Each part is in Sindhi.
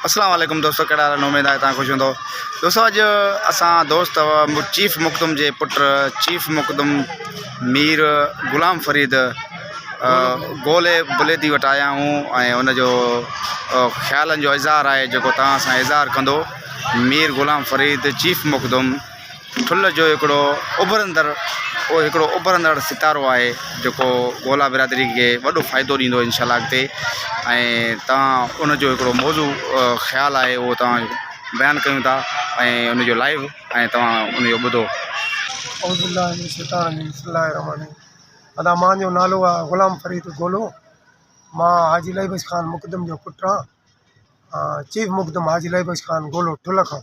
اسلام عليڪم دوستو ڪهڙا حال آهن اميد آهي تان خوش هوندو دوستو اڄ اسان دوست چيف مخدوم جي پٽ چيف مخدوم مير غلام فريد گولي بليدي وٽ آيا آهيون ۽ ان جو خيالن جو اظهار آهي جيڪو تان سان اظهار ڪندو مير غلام فريد چيف مخدوم ٿلهه جو هڪڙو اڀرندڙ او هڪڙو اڀرندڙ ستارو آهي جيڪو گولا برادري کي وڏو فائدو ڏيندو انشاء الله اڳتي ۽ تان ان جو هڪڙو موضوع خيال آهي او تان بيان ڪيون ٿا ۽ ان جو لائيو ۽ توهان ان جو ٻڌو اعوذ بالله من الشيطان الرجيم بسم الله الرحمن الرحيم ادا مان جو نالو آ غلام فريد گولو مان حاجي لائي بخش خان مقدم جو پٽ آ چيف مقدم حاجي لائي بخش خان گولو ٺلهه کان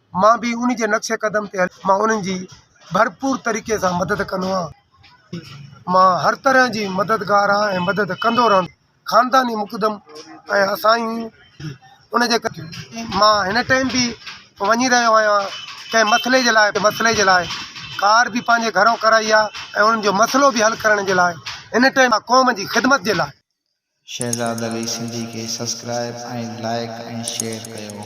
مان به انهن جي نقش قدم تي هلي مان انهن جي ڀرپور طريقي سان مدد ڪندو آهيان مان هر طرح جي مددگار آهيان ۽ مدد ڪندو رهندس خانداني مقدم ۽ اسايون ان جي ڪري مان هن ٽائيم به وڃي رهيو آهيان ڪنهن مسئلي جي لاء مسئلي جي لاء ڪار به پنهنجي گهرو ڪرائي آهي ۽ انهن جو مسئلو به حل ڪرڻ جي لاء هن ٽائيم مان قوم جي خدمت جي لاء شهزاد علي سنڌي کي سسڪرائب ۽ لائيڪ ۽ شيئر ڪيو.